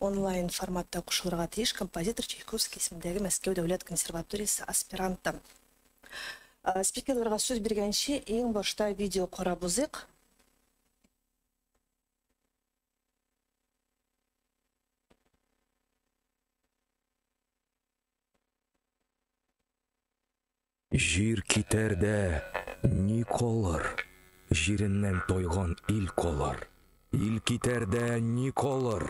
Онлайн форматта кушылырга тиеш композитор Чайковский исемендәге Мәскәү дәүләт консерваториясе аспиранты. Спикерларга сүз биргәнче, иң башта видео карап узыйк. Җир китәр дә ни калыр? Җиреннән тайган ил калыр. Ил китәр дә ни калыр?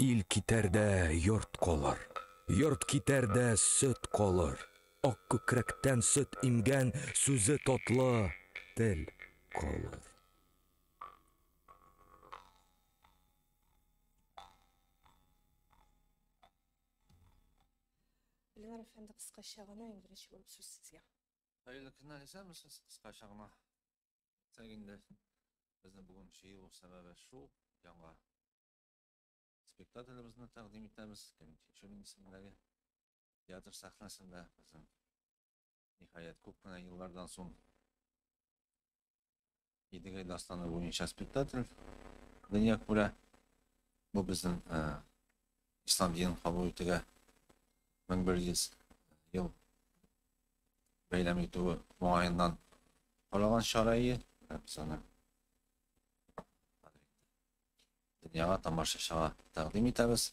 Ил китәр дә йорт калыр. Йорт китәр дә сөт калыр. Ак күкрәктән сөт имгән, сүзе татлы тел калыр. Ленар әфәнде, кыскача гына, иң беренче булып сүз сезгә. Хәерле көннәр, исәнмесез, кыскача гына. Тәк инде безне бүген җыю сәбәбе шул, яңа спектаклебезне тәкъдим итәбез. Кем Тинчурин исемендәге театр сәхнәсендә безнең Ниһаять, күп кенә еллардан соң Идегәй дастаны буенча спектакль дөнья күрә. Бу безнең ә, ислам динен кабул итүгә 1100 ел бәйләм итүе уңаеннан каралган чара ие. Ә, Без аны дөньяга тамашачыга тәкъдим итәбез.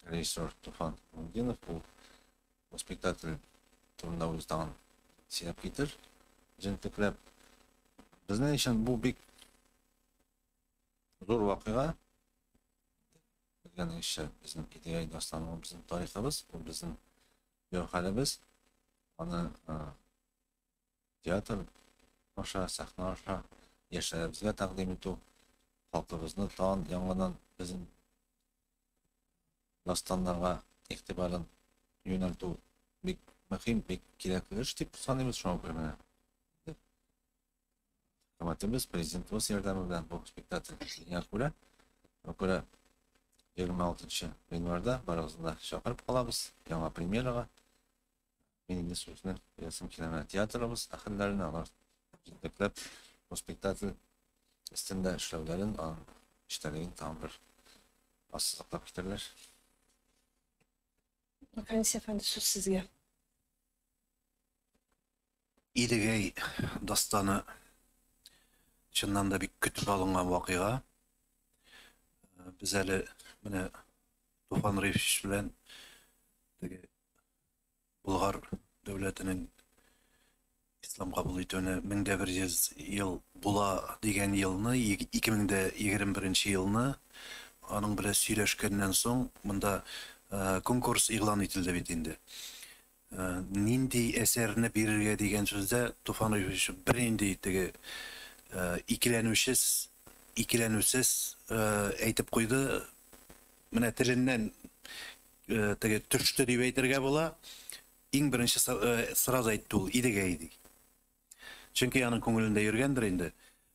Режиссер Туфан Мундинов бу спектакль турында үзе тагын сөйләп китер. Җентекләп. Безнең өчен бу бик зур вакыйга. Белгән эше безнең идея дастаны, безнең тарихыбыз, бу безнең яхалыбыз. Аны театр аша, сәхнә аша яшьләребезгә тәкъдим итү, халкыбызны тан яңадан безнең дастаннарга игътибарын юнәлтү бик мөһим, бик кирәкле эш дип саныйбыз. Шуңа күрә менә хөкүмәтебез, президентыбыз ярдәме белән бу спектакль килгәнгә күрә, шуңа күрә 26 январьда барыгызны да чакырып калабыз яңа премьерага. Мин инде сүзне ясым килә менә театрыбыз әһелләренә алар җитәкләп бу спектакль өстендә эшләүләрен, аның эчтәлеген тагын бер ассызыклап китәрләр. Әнис әфәнде, сүз сезгә. Идегәй дастаны чыннан да бик көтеп алынган вакыйга. Без әле менә Туфан Рифич белән теге Болгар дәүләтенең ислам кабул итүенә 1100 ел була дигән елны, 2021 елны аның белән сөйләшкәннән соң, монда конкурс игълан ителде бит инде. Нинди әсәрне бирергә дигән сүздә Туфан Ильич бернинди теге икеләнүчес, икеләнүсез әйтеп куйды, менә теленнән теге төште дип әйтергә була. Иң беренче сразу әйтте ул Идегәй ди. Чөнки аның күңелендә йөргәндер инде.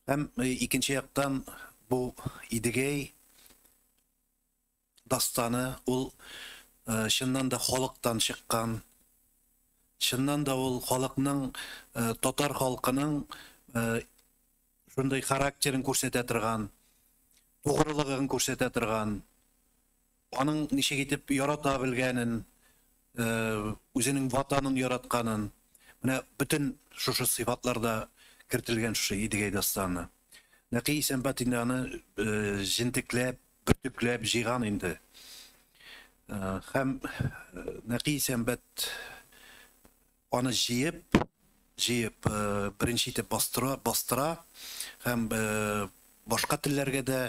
Һәм икенче яктан бу Идегәй дастаны ул чыннан да халыктан чыккан. Чыннан да ул халыкның татар халкының шундый характерын күрсәтә торган, тугрылыгын күрсәтә торган, аның ничек итеп ярата белгәнен, үзенең ватанын яратканын, менә бөтен шушы сыйфатларда кертелгән шушы Идегәй дастаны. Нәкый Исәнбат инде аны җентекләп, бөртекләп җыйган инде. Һәм Нәкый Исәнбат Аны җыеп, җыеп, беренче итеп бастыра, бастыра һәм башка телләргә дә,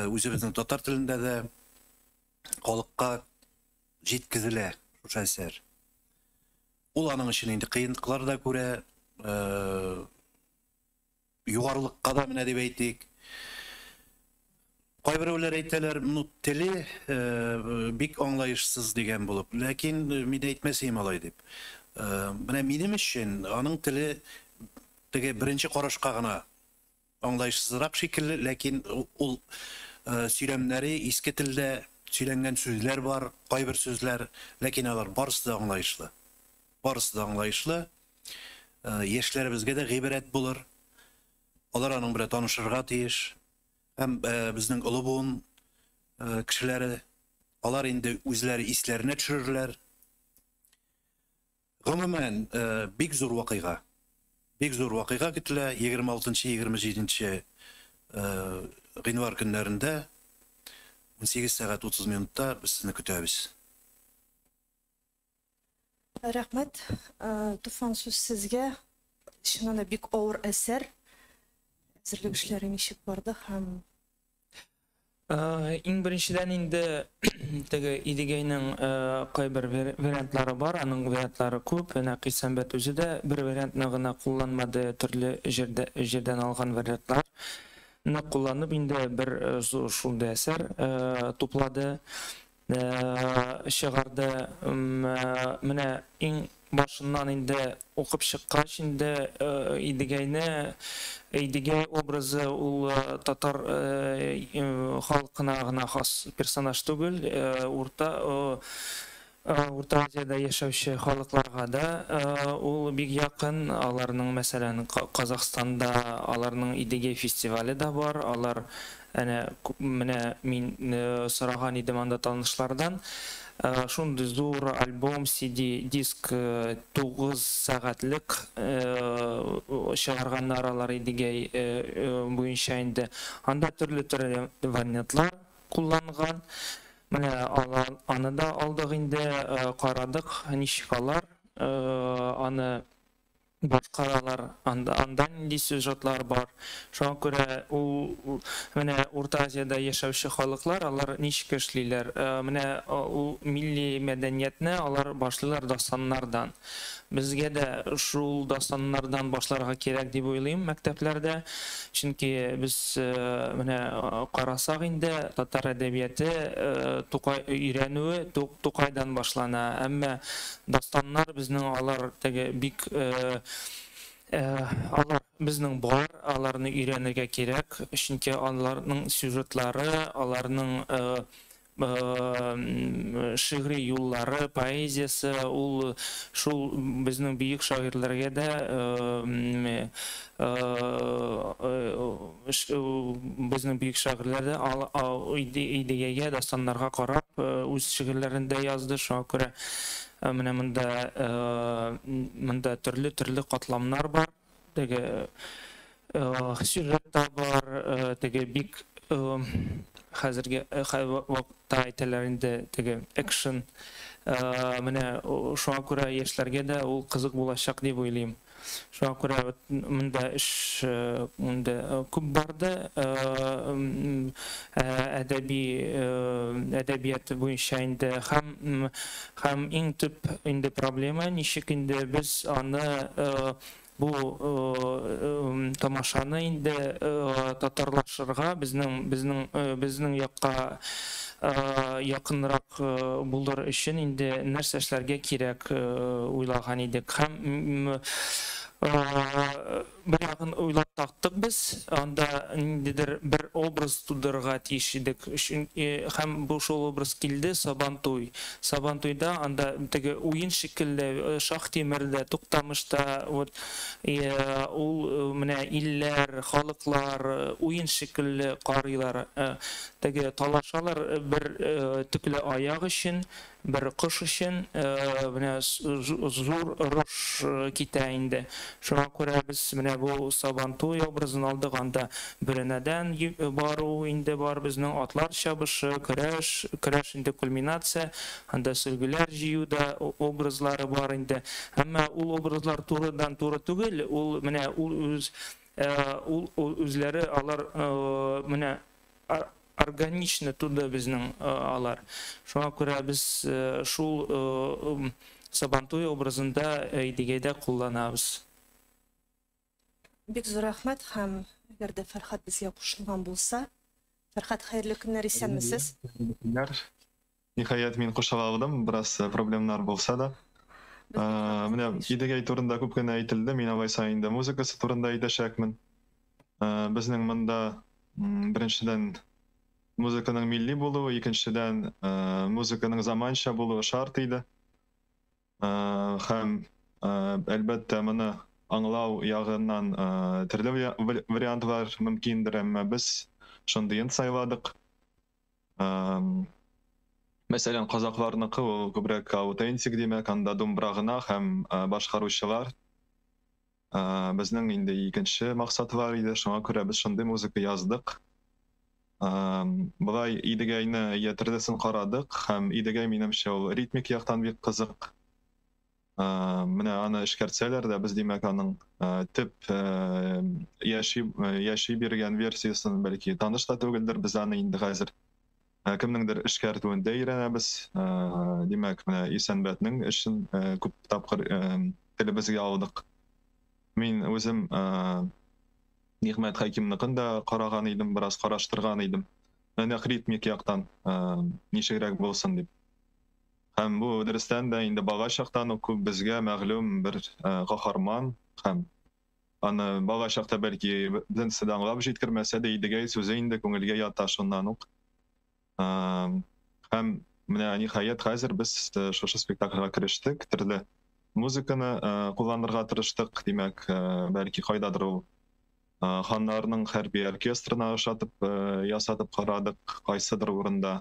үзебезнең татар телендә дә халыкка җиткезелә шушы әсәр. Ул аның өчен инде кыенлыклар да күрә, югарылыкка да менә дип әйтик. Кайберәүләр әйтәләр, ну теле бик аңлаешсыз дигән булып, ләкин мин әйтмәсеем алай дип. Менә минем өчен аның теле теге беренче карашка гына аңлаешсызрак шикелле, ләкин ул сөйләмнәре иске телдә сөйләнгән сүзләр бар, кайбер сүзләр, ләкин алар барысы да аңлаешлы. Барысы да аңлаешлы. яшьләребезгә дә гыйбрәт булыр. Алар аның белән танышырга тиеш. Һәм безнең олы буын кешеләре, алар инде үзләре исләренә төшерерләр. Гомумән, бик зур вакыйга. Бик зур вакыйга көтелә 26-27 гыйнвар көннәрендә 18:30 без сезне көтәбез. Рәхмәт, Туфан, сүз сезгә. Чыннан да бик авыр әсәр. Әзерлек эшләре ничек барды һәм? Иң беренчедән инде теге Идегәйнең кайбер вариантлары бар, аның вариантлары күп. Нәкый Сәмбәт үзе дә бер вариантны гына кулланмады, төрле җирдән алган вариантлар ны кулланып инде бер зур шундый әсәр туплады. чыгарды менә иң башыннан инде укып чыккач инде идегәйне идегәй образы ул татар халкына гына хас персонаж түгел урта урта азиядә яшәүче халыкларга да ул бик якын аларның мәсәлән казахстанда аларның идегәй фестивале да бар алар Әнә, менә мин сораган идем анда танышлардан, шундый зур альбом, CD, диск 9 сәгатьлек чыгарганнар алар Идегәй буенча инде. Анда төрле төрле вариантлар кулланган. Менә аны да алдык инде, карадык, ничек алар аны башкаралар, анда анда нинди сюжетлар бар, шуңа күрә ул менә Урта Азиядә яшәүче халыклар, алар ничек эшлиләр, менә ул милли мәдәниятне алар башлыйлар дастаннардан. Безгә дә шул дастаннардан башларга кирәк дип уйлыйм мәктәпләрдә, чөнки без менә карасак инде, татар әдәбияте Тукай өйрәнүе Тукайдан башлана, әмма Дастаннар безнең алар теге бик алар безнең бар, аларны өйрәнергә кирәк, чөнки аларның сюжетлары, аларның шигъри юллары, поэзиясе ул шул безнең бөек шагыйрьләргә дә Безнең бөек шагыйрьләр дә идеягә, дастаннарга карап, үз шигырьләрен дә язды. Шуңа күрә менә монда монда төрле-төрле катламнар бар. Теге сюжет та бар, теге бик хәзерге вакытта әйтәләр инде теге экшен. Менә шуңа күрә яшьләргә дә ул кызык булачак дип уйлыйм. Шуңа күрә вот монда эш инде күп барды. Әдәби әдәбият буенча инде һәм һәм иң төп инде проблема ничек инде без аны бу тамашаны инде татарлашырга, безнең безнең безнең якка якынрак булыр өчен инде нәрсә эшләргә кирәк уйлаган идек һәм бу ягын уйлап тактык без, анда ниндидер бер образ тудырырга тиеш идек һәм бу шул образ килде, Сабантуй. Сабантуйда анда теге уен шикелле Шаһ-Тимердә, Туктамышта вот ул менә илләр, халыклар уен шикелле карыйлар. Теге талашалар бер төкле аяк өчен, бер кош өчен. Менә зур орыш китә инде. Шуңа күрә без менә бу Сабантуй образын алдык. Анда бөрәнәдән бару инде бар безнең, атлар чабышы, көрәш. Көрәш инде кульминация. Анда сөлгеләр җыю да образлары бар инде. Әмма ул образлар турыдан-туры түгел. Ул менә ул үз ул үзләре алар менә органично туды безнең алар. Шуңа күрә без шул Сабантуй образында Идегәйдә кулланабыз. Бик зур рәхмәт һәм әгәр дә Фәрхәт безгә кушылган булса, Фәрхәт, хәерле көннәр, исәнмесез? Хәерле көннәр. Ниһаять, мин кушыла алдым, бераз э, проблемнар булса да. Без Ә, кушабыз, Менә конечно. Идегәй турында күп кенә әйтелде, мин алайса инде музыкасы турында әйтәчәкмен. Ә, Безнең монда м, беренчедән музыканың милли булуы, икенчедән ә, музыканың заманча булуы шарт иде. Ә, Һәм ә, әлбәттә моны аңлау ягыннан ә, төрле вариа- вариантлар мөмкиндер, әмма без шундыен сайладык. Мәсәлән, казакъларныкы ул күбрәк аутентик, димәк, анда думбра гына һәм башкаручылар. Безнең инде икенче максатлар иде, шуңа күрә без шундый музыка яздык. Болай Идегәйне, Йә тердесен карадык һәм Идегәй, минемчә, ул ритмик яктан бик кызык. Менә аны эшкәртсәләр дә, без, димәк, аның төп яши, яши биргән версиясен бәлки таныш та түгелдер, без аны инде хәзер кемнеңдер эшкәртүендә өйрәнәбез. Димәк, менә Исәнбәтнең эшен күп тапкыр телебезгә алдык. Мин үзем Нигъмәт Хәкимныкын да караган идем, бераз караштырган идем. Нәкъ ритмик яктан ничегрәк булсын дип. Һәм бу, дөрестән дә, инде бала чактан ук күп безгә мәгълүм бер каһарман һәм аны бала чакта, бәлки, беренче дә аңлап җиткермәсә дә, Идегәй сүзе инде күңелгә ята шуннан ук. Һәм менә, ниһаять, хәзер без шушы спектакльгә керештек, төрле музыканы кулланырга тырыштык, димәк, бәлки, кайдадыр ул ханнарның хәрби оркестрына ошатып ясатып карадык кайсыдыр урында.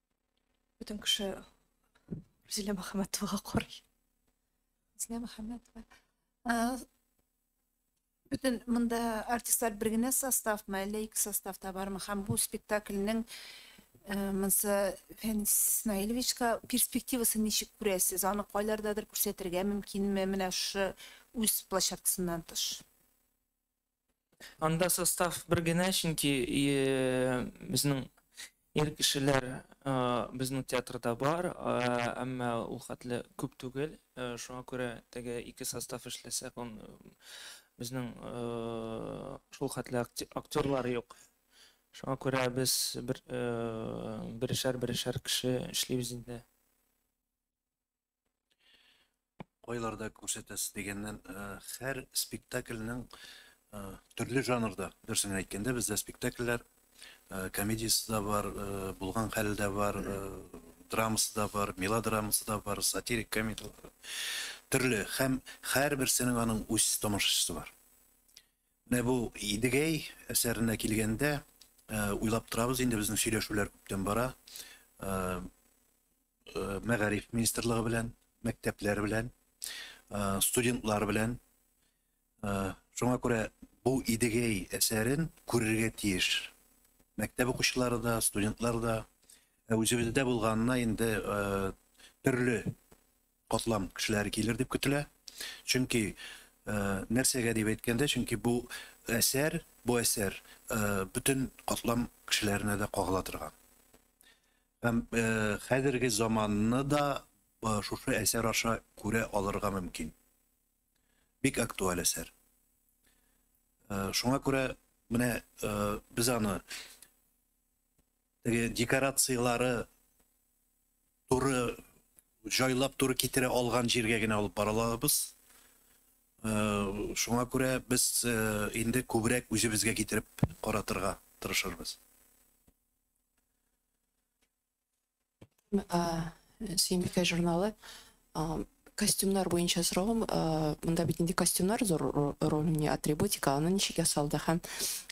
Бөтен кеше Рузилә Мөхәммәтовага карый. Рузилә Мөхәммәтова. Бөтен монда артистлар бер генә составмы, әллә ике составта бармы? Һәм бу спектакльнең монсы Фәнис Исмаиловичка перспективасы ничек күрәсез? Аны кайлардадыр күрсәтергә мөмкинме? Менә шушы үз площадкасыннан тыш. Анда состав бер генә, чөнки безнең ир кешеләр безнең театрда бар, әмма ул хәтле күп түгел. Шуңа күрә теге ике состав эшләсә, безнең шул хәтле актерлар юк. Шуңа күрә без берешәр-берешәр кеше эшлибез инде. Кайларда күрсәтәсез дигәннән, һәр спектакльнең төрле жанрда, дөресен әйткәндә, бездә спектакльләр комедиясе дә бар, булган хәл дә бар, драмасы да бар, мелодрамасы да бар, сатирик комедияләр. Төрле һәм һәрберсенең аның үз тамашачысы бар. Менә бу Идегәй әсәренә килгәндә, уйлап торабыз инде, безнең сөйләшүләр күптән бара. Мәгариф министрлыгы белән, мәктәпләр белән, студентлар белән. Шуңа күрә бу Идегәй әсәрен күрергә тиеш мәктәп укучылары да, студентлар да. Ә үзебездә булганына инде төрле катлам кешеләре килер дип көтелә. Чөнки нәрсәгә дип әйткәндә, чөнки бу әсәр, бу әсәр бөтен катлам кешеләренә дә кагыла торган. Һәм хәзерге заманны да шушы әсәр аша күрә алырга мөмкин. Бик актуаль әсәр. Шуңа күрә менә без аны теге декорацияләре Туры җайлап, туры китерә алган җиргә генә алып бара алабыз. Шуңа күрә без инде күбрәк үзебезгә китереп каратырга тырышырбыз. Сөембикә журналы Костюмнар буенча соравым, монда бит инде костюмнар зур роль уйный, атрибутика, аны ничек ясалды? Һәм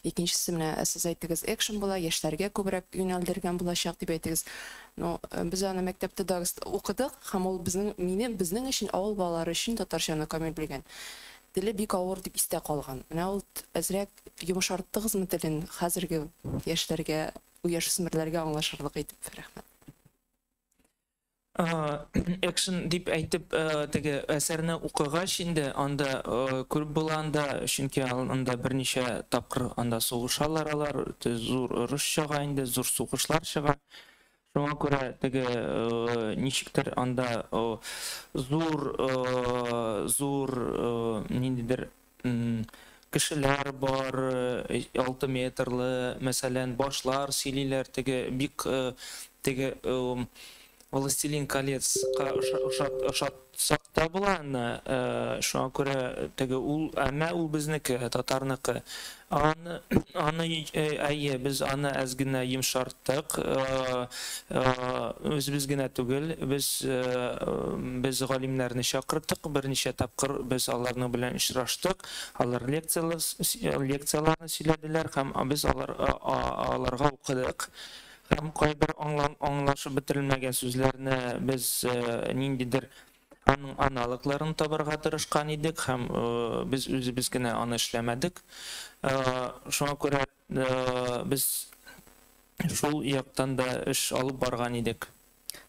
икенчесе, менә сез әйттегез, экшн була, яшьләргә күбрәк юнәлдергән булачак дип әйтегез. Ну, без аны мәктәптә дә укыдык, һәм ул безнең, минем, безнең өчен, авыл балалары өчен татарчаны камил белгән. Теле бик авыр дип истә калган. Менә ул әзрәк йомшарттыгызмы телен хәзерге яшьләргә, яшүсмерләргә аңлашырлык итеп? Рәхмәт. Экшн дип әйтеп теге әсәрне укыгач инде анда күреп була анда чөнки анда берничә тапкыр анда сугышалар алар зур орыш чага инде зур сугышлар чыга шуңа күрә теге ничектер анда зур зур ниндидер кешеләр бар, алты метрлы, мәсәлән, башлар сөйлиләр, теге бик теге Властелин колецка ошатсак та була аны, шуңа күрә теге ул, әмма ул безнеке, татарныкы. Аны, аны, әйе, без аны әз генә йомшарттык. Үзебез генә түгел, без, без галимнәрне чакырдык, берничә тапкыр без аларның белән очраштык, алар лекцияләр, лекцияләрне сөйләделәр һәм без алар, аларга укыдык. Һәм кайбер аңлашып бетерелмәгән сүзләрне без ниндидер Аның аналогларын табарга тырышкан идек һәм без үзебез генә аны эшләмәдек. Шуңа күрә без шул яктан да эш алып барган идек.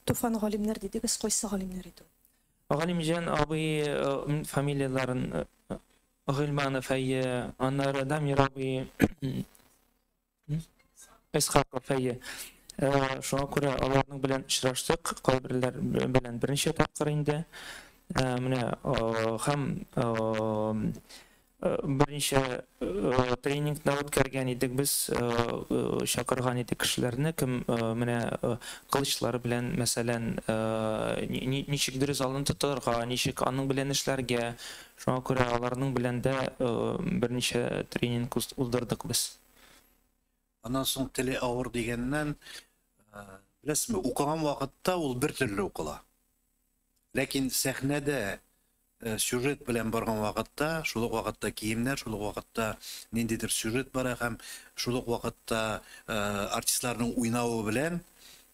Туфан галимнәр дидегез, кайсы галимнәр иде ул? Галимҗан абый фамилияләрен Гыйльманов, әйе, аннары Дамир абый, Исхаков, әйе. Э, шуңа күрә аларның белән очраштык, кайберләр белән берничә тапкыр инде. Э, менә э, һәм берничә тренингны үткәргән идек без, чакырган идек кешеләрне, кем менә кылычлары белән, мәсәлән, ничек дөрес алын тотарга, ничек аның белән эшләргә, шуңа күрә аларның белән дә берничә тренинг уздырдык без. Аннан соң теле авыр дигәннән, беләсезме, укыган вакытта ул бер төрле укыла. Ләкин сәхнәдә э, сюжет белән барган вакытта, шул ук вакытта киемнәр, шул ук вакытта ниндидер сюжет бара һәм шул ук вакытта э, артистларның уйнавы белән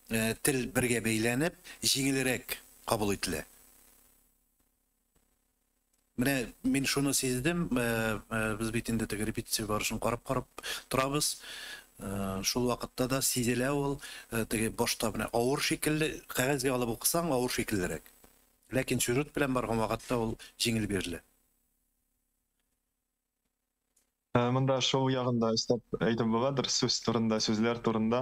э, тел бергә бәйләнеп, җиңелрәк кабул ителә. Менә мин шуны сиздем, без бит инде теге репетиция барышын карап-карап торабыз. Шул вакытта да сизелә ул, теге башта менә авыр шикелле, кәгазьгә алып укысаң авыр шикеллерәк. Ләкин сюжет белән барган вакытта ул җиңел бирелә. Ә, Монда шоу ягында өстәп әйтеп буладыр, сүз турында, сүзләр турында.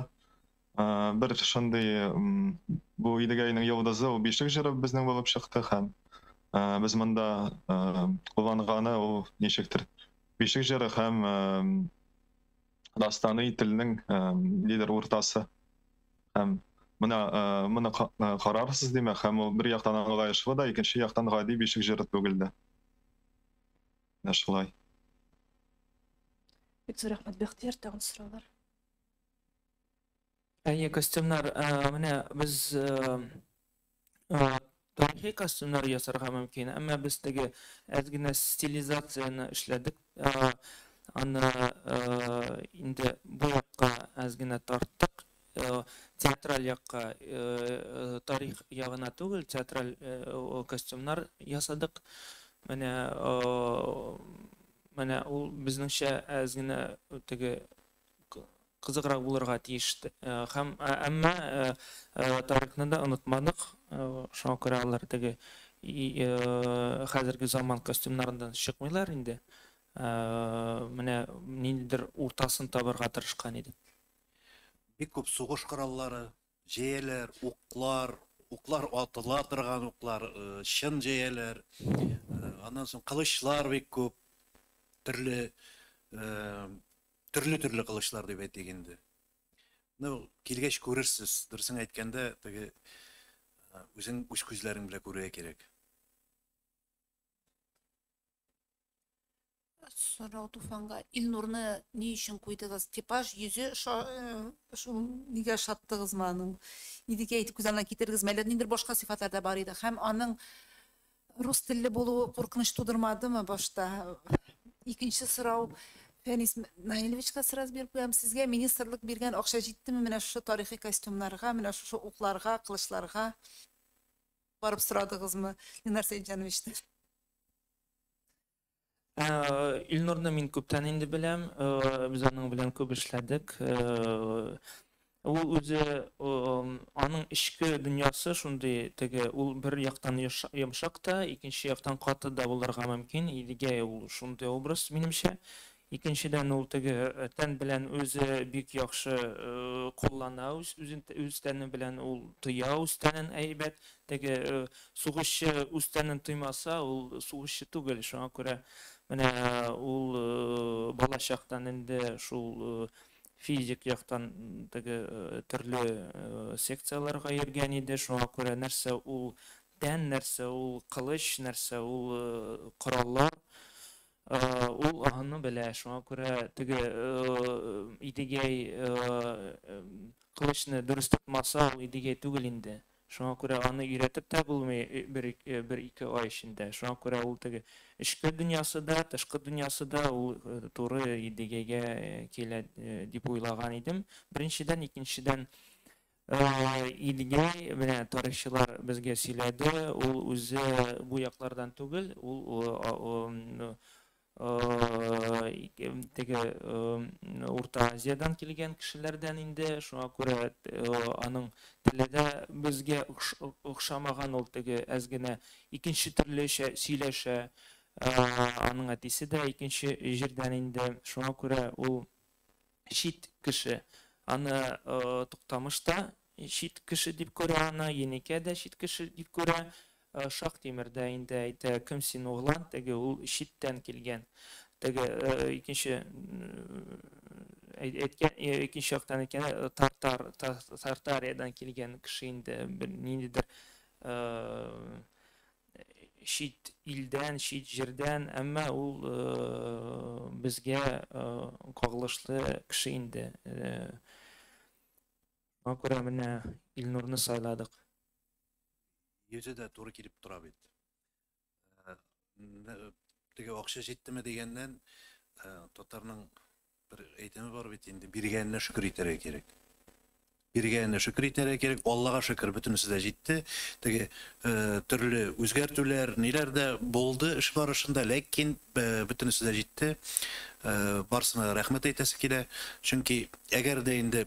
Ә, Бер шундый м, бу Идегәйнең йолдызы ул бишек җыры безнең булып чыкты һәм ә, без монда ә, кулланганы ул ничектер бишек җыры һәм ә, дастаны телнең ә, лидер уртасы. Һәм менә ә, моны ка- ә, карарсыз димәк, һәм ул бер яктан аңлаешлы да, икенче яктан гади бишек җыры түгел дә. Менә шулай. Бик зур рәхмәт, Бәхтияр, тагын сораулар? Әйе, костюмнар, э, менә без э, э, тарихи костюмнар ясарга мөмкин, әмма без теге әз генә стилизацияне эшләдек. Аны инде бу якка әз генә тарттык, театраль якка, тарих ягына түгел, театраль костюмнар ясадык. Менә менә ул безнеңчә әз генә теге кызыграк булырга тиеш. Һәм әмма тарихны да онытмадык. Шуңа күрә алар теге хәзерге заман костюмнарыннан чыкмыйлар инде. Менә ниндидер уртасын табырга тырышкан идек. Бик күп сугыш кораллары, җәяләр, уклар, уклар атыла торган уклар, э, чын җәяләр, э, аннан соң кылычлар бик күп, төрле, э, төрле-төрле кылычлар дип әйтик инде. Ну, килгәч күрерсез, дөресен әйткәндә, теге э, үзең үз күзләрең белән күрергә кирәк. Сорау Туфанга. Илнурны ни өчен куйдыгыз? Типаж, йөзе шул нигә шаттыгызмы аның? Идекә итеп күз алдына китердегезме? Әллә ниндер башка сыйфатлар да бар иде. Һәм аның рус телле булуы куркыныч тудырмадымы башта? Икенче сорау Фәнис Наилевичка сразу биреп куям. Сезгә министрлык биргән акча җиттеме менә шушы тарихи костюмнарга, менә шушы укларга, кылычларга? Барып сорадыгызмы Ленар Сәетҗановичтан? Илнурны мин күптән инде беләм. Без аның белән күп эшләдек. Ул үзе, аның эчке дөньясы шундый теге, ул бер яктан йомшак та, икенче яктан каты да булырга мөмкин. Идегәй ул шундый образ, минемчә. Икенчедән, ул теге тән белән үзе бик яхшы куллана, үзен үз тәне белән ул тоя, үз тәнен әйбәт. Теге сугышчы үз тәнен тоймаса, ул сугышчы түгел. Шуңа күрә менә ул балачактан инде шул физик яктан теге төрле секцияләргә йөргән иде. Шуңа күрә нәрсә ул тән, нәрсә ул кылыч, нәрсә ул кораллар, Ул аны белә, шуңа күрә теге Идегәй кылычны дөрес тотмаса, ул Идегәй түгел инде. Шуңа күрә аны өйрәтеп тә булмый бер, бер ике ай эчендә. Шуңа күрә ул теге эчке дөньясы да, тышкы дөньясы да ул туры Идегәйгә килә дип уйлаган идем. Беренчедән, икенчедән, Идгәй, менә тарихчылар безгә сөйләде, ул үзе бу яклардан түгел, ул теге Урта Азиядән килгән кешеләрдән инде, шуңа күрә аның теле дә безгә охшамаган, ул теге әз генә икенче төрлечә сөйләшә. Аның әтисе дә икенче җирдән инде, шуңа күрә ул чит кеше аны Туктамыш та чит кеше дип күрә аны, Енекә дә чит кеше дип күрә. Шактимер дә инде әйтә, кем син, углан, теге ул читтән килгән. Теге икенче әйткән, икенче яктан әйткәндә, татар, Тартариядән килгән кеше инде, ниндидер чит илдән, чит җирдән, әмма ул безгә кагылышлы кеше инде. Шуңа күрә менә Илнурны сайладык. Йөзе дә туры килеп тора бит. Теге акча җиттеме дигәннән, татарның Бер әйтеме бар бит инде, биргәненә шөкер итәргә кирәк. Биргәненә шөкер итәргә кирәк. Аллага шөкер, бөтенесе дә җитте. Теге э, төрле үзгәртүләр, ниләр дә булды эш барышында, ләкин э, бөтенесе дә җитте. Э, барсына рәхмәт әйтәсе килә. Чөнки әгәр дә инде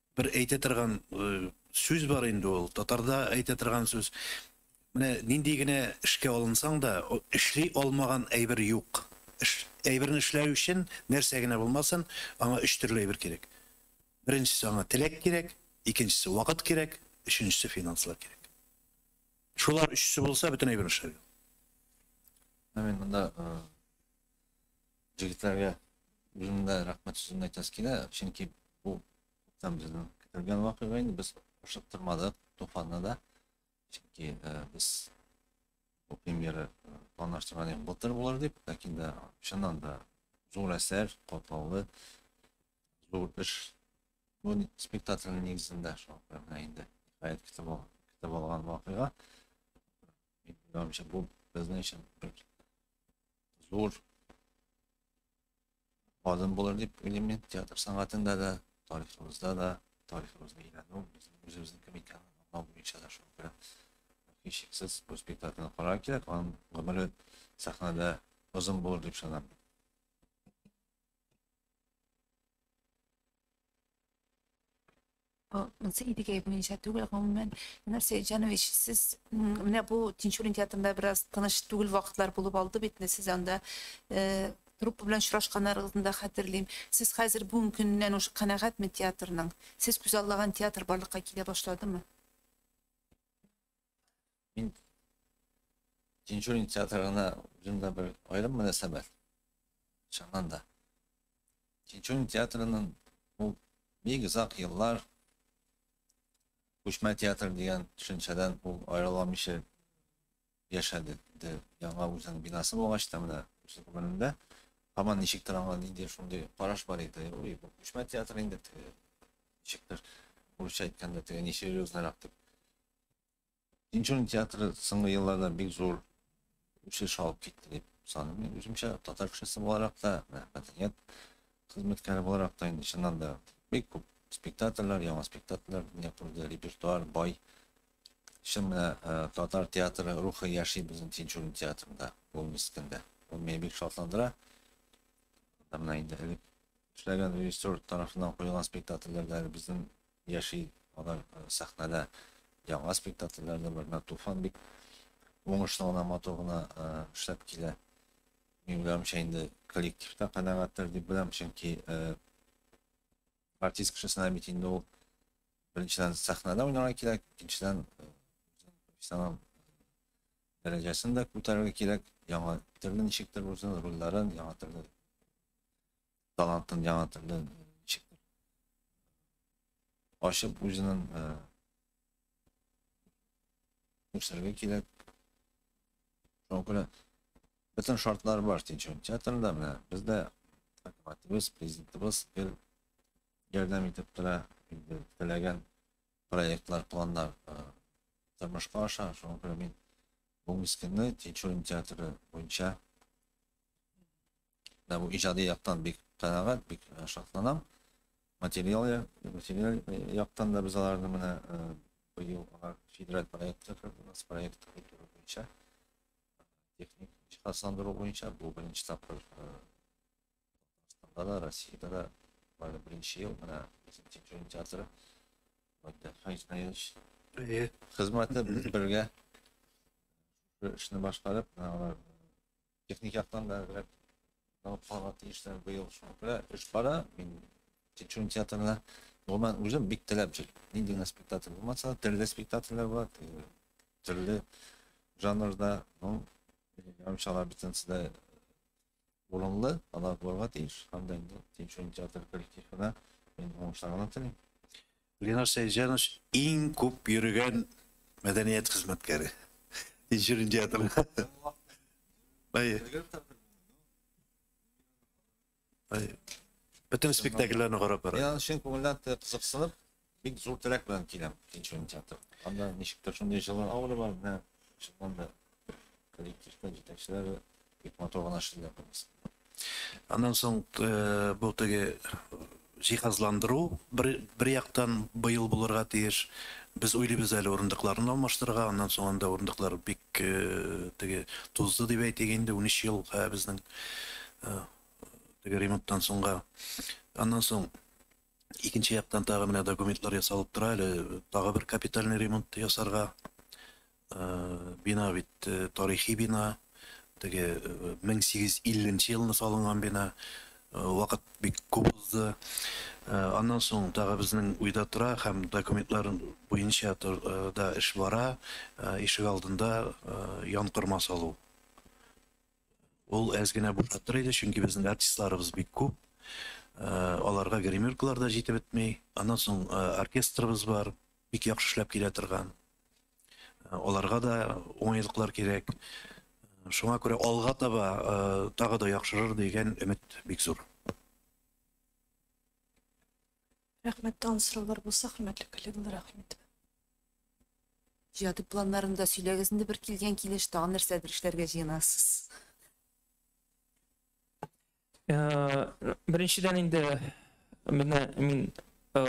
бер әйтә торган сүз бар инде ул татарда әйтә торган сүз менә нинди генә эшкә алынсаң да эшли алмаган әйбер юк әйберне эшләү өчен нәрсә генә булмасын аңа өч төрле әйбер кирәк беренчесе аңа теләк кирәк икенчесе вакыт кирәк өченчесе финанслар кирәк шулар өчесе булса бөтен әйбер эшләр амин мында Җегетләргә үзем дә рәхмәт сүзен әйтәсе килә, чөнки бу күптән безнең көтелгән вакыйга инде, без ашыктырмадык Туфанны да, чөнки э, без бу премьера э, планлаштырган идек былтыр булыр дип, ләкин дә чыннан да зур әсәр, катлаулы, зур эш. Бу ни- спектакльнең нигезендә шул менә инде гаять көтеп ал- көтеп алган вакыйга. Минем уйлавымча, бу безнең өчен бер зур адым булыр дип уйлыйм мин театр сәнгатендә дә тарихыбызда да тарихыбызны өйрәнү безнең үзебезнең кем икәнен аңлау буенча да шул белән һичшиксез бу спектакльне карар кирәк аның гомере сәхнәдә озын булыр дип ышанам Монсы Идегәев муенча түгел, гомумән, Ленар Сәетҗанович, сез менә бу Тинчурин театрында бераз тыныч түгел вакытлар булып алды бит, менә сез анда труппа белән очрашканнарыгызны да хәтерлим. Сез хәзер бүгенге көннән уж канәгатьме театрның? Сез күзаллаган театр барлыкка килә башладымы? Мин Тинчурин театрына үземдә бер аерым мөнәсәбәт. Чыннан да. Тинчурин театрының ул бик озак еллар күчмә театр дигән төшенчәдән ул аерыламыйча яшәде. Яңа үзенең бинасы булгач та менә үз гомерендә һаман ничектер аңа нинди шундый караш бар иде. Ой, бу күчмә театр инде. Ничектер, урысча әйткәндә, теге несерьезно дип Тинчурин театры соңгы елларда бик зур үсеш алып китте дип саныйм. Мин үземчә татар кешесе буларак та, мәдәният хезмәткәре буларак та инде чыннан да бик күп спектакльләр, яңа спектакльләр дөнья күрде, репертуар бай. Чын менә э, татар театры рухы яши безнең Тинчурин театрында, ул мискендә. Ул мине бик шатландыра. Менә инде элек эшләгән режиссер тарафыннан куелган спектакльләрдәге безнең яши алар э, сәхнәдә яңа спектакльләрдә бернә туфан бик уңышлы гына матур гына э, эшләп килә мин уйлавымча инде коллектив та канәгатьтер дип беләм чөнки э, артист кешесенә бит инде ул беренчедән сәхнәдә уйнарга кирәк икенчедән профессионал дәрәҗәсен дә күтәрергә кирәк яңа төрле ничектер үзен рольләрен яңа төрле талантын яңа төрле ничектер ачып үзенең үсәргә кирәк шуңа күрә бөтен шартлар бар тинчурин театрында менә бездә хөкүмәтебез президентыбыз гел ярдәм итеп тора инде теләгән проектлар планнар тормышка аша шуңа күрә мин бүгенге көнне тинчурин театры буенча да бу иҗади яктан бик канәгать, бик э, шатланам. Материал, материал э, яктан да без аларны менә э, быел алар федераль проектка керде, нас проект культура буенча, техник җиһазландыру буенча бу беренче тапкыр Татарстанда да, Россиядә дә бары беренче ел менә безнең Тинчурин театры Вадя Хайзнаевич хезмәте бергә эшне башкарып, алар техник яктан да әзрәк алып калырга тиешләр быел шуңа күрә эш бара мин тикшерү театрына гомумән үзем бик теләп җыр нинди генә спектакль булмаса төрле спектакльләр бар төрле жанрда ну ярымчалар бөтенесе дә урынлы алар булырга тиеш һәм дә инде тикшерү театр коллективына мин уңышлар гына телим Ленар Сәйҗанович иң күп йөрегән мәдәният хезмәткәре. Иҗүрин театры. Ай. Ай. Бөтен спектакльләрне карап бара. Я чын күңелдән кызыксынып, бик зур теләк белән киләм Иҗүрин театры. Анда ничектер шундый җылы аура бар, менә шуннан да коллективтан җитәкчеләр бик матур гына эшлиләр барысы. Аннан соң э, бу теге җиһазландыру бер, бер яктан быел булырга тиеш. Без уйлыйбыз әле урындыкларны алмаштырырга, аннан соң анда урындыклар бик э, теге тузды дип әйтик инде, 13 ел ә, безнең э, теге ремонттан соңга. Аннан соң Икенче яктан тагы менә документлар ясалып тора әле, тагы бер капитальный ремонт ясарга. Э, бина бит э, тарихи бина, теге 1850 э, елны салынган бина. Вакыт бик күп узды. Аннан соң тагы безнең уйда тора һәм документлар буенча да эш бара. Ишек алдында янкорма салу. Ул әз генә булып тора иде, чөнки безнең артистларыбыз бик күп. Э, аларга гримеркалар да җитеп бетми. Аннан соң э, оркестрыбыз бар, бик яхшы эшләп килә торган. Э, аларга да уңайлыклар кирәк. Шуңа күрә алга таба тагы да яхшырыр дигән өмет бик зур. Рәхмәт, тагын сораулар булса, хөрмәтле коллегалар, рәхмәт. Иҗади планнарны да сөйләгез инде бер килгән килеш, тагын нәрсәдер эшләргә җыенасыз? Э, Беренчедән инде менә мин э,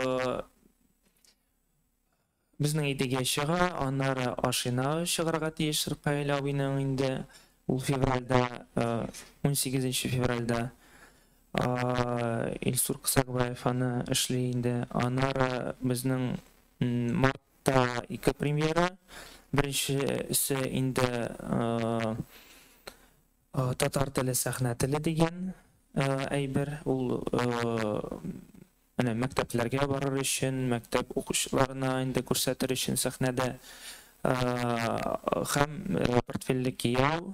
Безнең Идегә чыга, аннары Ашина чыгарга тиеш Ркаил абыйның инде ул февральдә, унсигезенче февральдә Илсур Кысакбаев аны эшли инде, аннары безнең мартта ике премьера, беренчесе инде Татар теле сәхнә теле дигән әйбер, ул Менә мәктәпләргә барыр өчен, мәктәп укучыларына инде күрсәтер өчен сәхнәдә һәм портфельле кияү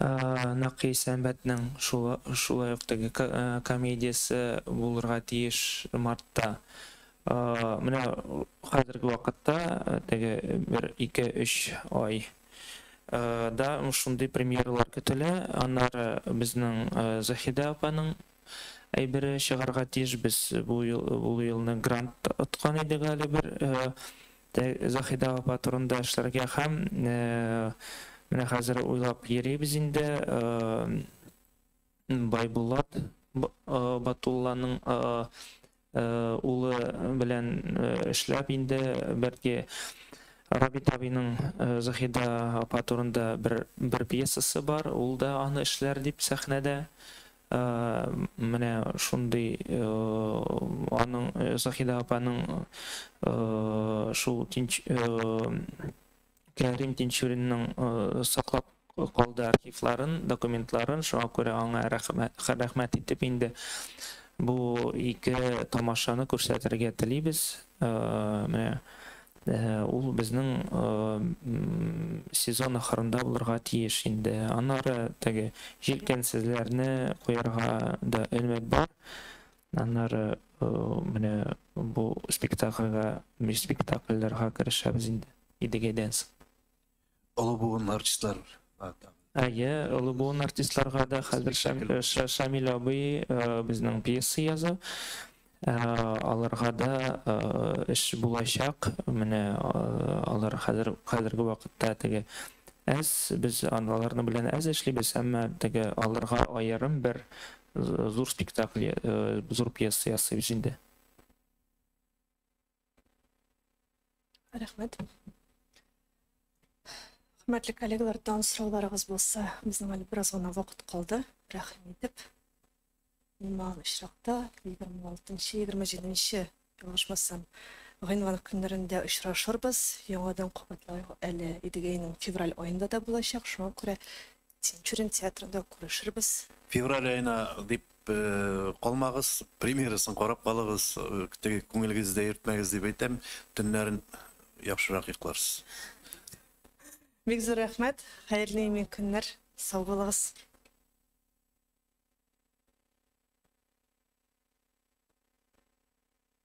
Нәкый сәнбәтнең шулай ук теге комедиясе булырга тиеш мартта. Менә хәзерге вакытта теге бер ике өч ай да шундый премьералар көтелә. Аннары безнең Заһидә апаның әйбере чыгарга тиешбез. Бу ул елны грант откан идек әле бер Заһидә апа турында эшләргә һәм менә хәзер уйлап йөрибез инде. Байбулат Батулланың Улы белән эшләп инде, бәлки Рабит абыйның Заһидә апа турында бер пьесасы бар, ул да аны эшләр дип сәхнәдә. Менә шундый аның Заһидә апаның шул Кәрим Тинчуринның саклап калды архивларын, документларын, шуңа күрә аңа рәхмәт, рәхмәт итеп инде бу ике тамашаны күрсәтергә телибез. Менә ул безнең сезон ахырында булырга тиеш инде. Аннары теге җилкәнсезләрне куярга да өмет бар. Аннары менә бу спектакльгә, спектакльләргә керешәбез инде. Идегәй Дэнс. Олы буын артистлар. Әйе, олы буын артистларга да хәзер Шамил абый безнең пьеса яза. Аларга да эш булачак. Менә алар хәзер хәзерге вакытта теге әз без аларны белән әз эшлибез, әмма теге аларга аерым бер зур спектакль, зур пьеса ясыйбыз инде. Рәхмәт. Хөрмәтле коллегалар, тан сорауларыгыз булса, безнең әле бераз гына вакыт калды. Рәхим итеп, иман очракта 26-27 ялгышмасам, гыйнвар көннәрендә очрашырбыз. Яңадан кабатлау әле Идегәйнең февраль аенда да булачак. Шуңа күрә Тинчурин театрында күрешербез. Февраль аена дип калмагыз, премьерасын карап калыгыз, теге күңелегезне дә йөртмәгез дип әйтәм, төннәрен яхшырак йокларсыз. Бик зур рәхмәт, хәерле имин көннәр, сау булыгыз.